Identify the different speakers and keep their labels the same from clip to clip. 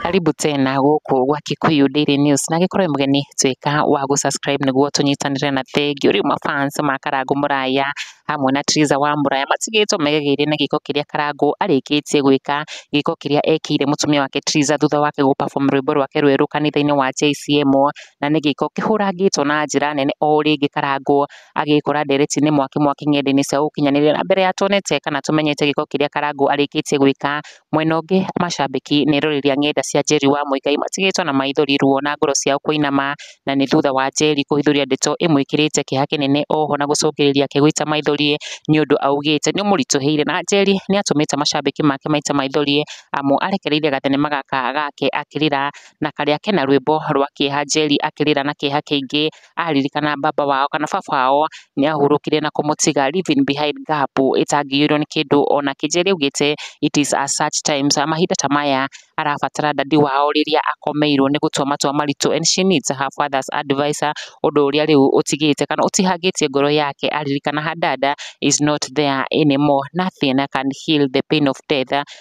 Speaker 1: Karibu tena gũkũ gwa Kikuyu Daily News na gĩkorwo mũgeni tuĩka wa gũ subscribe nĩguo tũnyitanĩre na thengiũ rĩu mafans ma Karangũ Mũraya hamwe na Triza wa Mũraya matigĩtwo megegeire na gĩko kĩrĩa Karangũ arĩkĩtie gwĩka gĩko kĩrĩa ekĩire mũtumia wake Triza thutha wake gũ perform rwĩmbo rwake rwerũ kanitha-inĩ wa JCM na nĩ gĩko kĩhũrangĩtwo na njĩra nene o ũrĩa ingĩkarangwo agĩkora ndereti-inĩ mwaki mwaki ng'enda-inĩ cia ũkinyanĩria na mbere ya tuonete kana tũmenyete gĩko kĩrĩa karangũ arĩkĩtie gwĩka mwena ũngĩ macambĩki nĩ rũrĩrĩa ng'enda cia Njeri wa Mũigai matigĩtwo na maithori ruo na ngoro ciao kũinama na nĩ thutha wa Njeri kũhithũria ndeto ĩmwĩkĩrĩte kĩeha kĩnene oho na gũcũngĩrĩria akĩgũita maithori nĩ ũndũ augĩte nĩ ũmũritũhĩire na Njeri nĩ atũmĩte macambĩki make maita maithori amu arekereirie gathenema gaka gake akĩrĩra na karĩa kena rwĩmbo rwa kĩeha Njeri akĩrĩra na kĩeha kĩingĩ aririkana baba wao kana baba wao nĩ ahurũkire na kũmũtiga leaving behind gap ĩtangĩiyũrwo nĩ kĩndũ ona kĩ Njeri augĩte it is a such times mahinda ta maya arabatara dadi wao rĩrĩa akomeirwo nĩ gũtua matua maritũ and she needs her father's advice ũndũ ũrĩa rĩu ũtigĩte kana ũtihangĩtie ngoro yake aririkana her dad is not there anymore nothing can heal the pain of death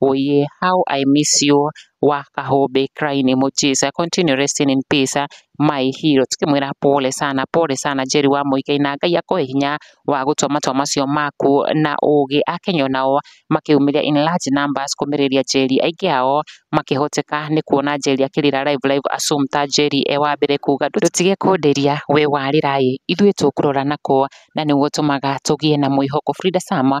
Speaker 1: Oh yeah, how I miss you wa kahombe crying emojis. Continue resting in peace my hero. Tukimwira pole sana, pole sana Jerry wa Muigai na Ngai akoe hinya wa gũtua matua macio maku na ũũgĩ. Akenya nao makĩumĩria in large numbers kũmĩrĩria Jerry. Aingĩ ao makĩhoteka nĩ kuona Jerry akĩrĩra live live Assumpta Jerry e wa mbere kuga ndũtige kũnderia we warĩra ĩ ithuĩ tũkũrora nakwo na nĩguo tũmaga tũgĩe na mwĩhoko. Frida Sama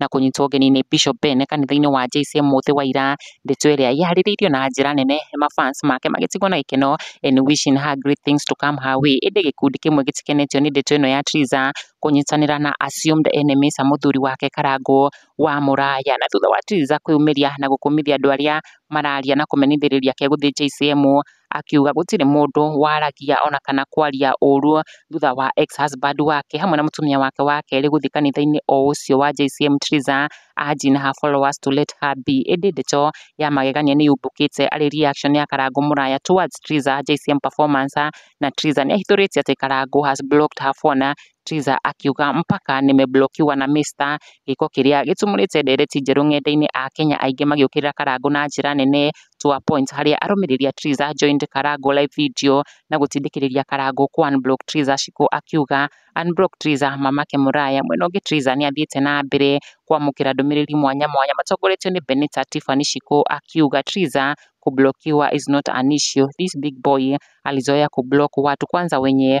Speaker 1: na kũnyitwo ũgeni nĩ Bishop Bene kanitha-inĩ wa JC Mũthĩ wa ira. Ndeto ĩrĩa ĩharĩrĩirio na njĩra nene ma fans make magĩtigwo na gĩkeno and wishing her great things to come her way. Ĩndĩ gĩkundi kĩmwe gĩtikenetio nĩ ndeto ĩno ya Triza kũnyitanĩra na assumed enemies a mũthuri wake Karangũ wa Mũraya. Na thutha wa Triza kwĩyumĩria na gũkũmithia andũ arĩa mararia na kũmenyithĩrĩria kegũthiĩ JCM, akiuga gũtirĩ mũndũ waragia ona kana kwaria ũũru thutha wa ex husband wake hamwe na mũtumia wake wa kerĩ gũthiĩ kanitha-inĩ o ũcio wa JCM Triza urging her followers to let her be ĩndĩ ndeto ya magegania nĩ yumbũkĩte arĩ reaction ya Karangũ Mũraya towards Triza JCM performance na Triza nĩ ahithũrĩtie atĩ Karangũ has blocked her phone Triza akiuga mpaka nĩmeblokiwa na Mr gĩko kĩrĩa gĩtumũrĩte ndereti njerũ ng'enda-inĩ a Kenya aingĩ magĩũkĩrĩra Karangũ na njĩra nene to a point harĩa arũmĩrĩri a Triza joined Karangũ live video na gũtindĩkĩrĩria Karangũ ku unblock Triza Shiko akiuga unblock Triza mamake mũraya mwena ũngĩ Triza nĩathiĩte na mbere kwamũkĩra ndũmĩrĩri mwanya mwanya matongoretio nĩ Benita Tiffany Shiko akiuga Triza kublokiwa is not an issue this big boy alizoea kublock watu kwanza wenye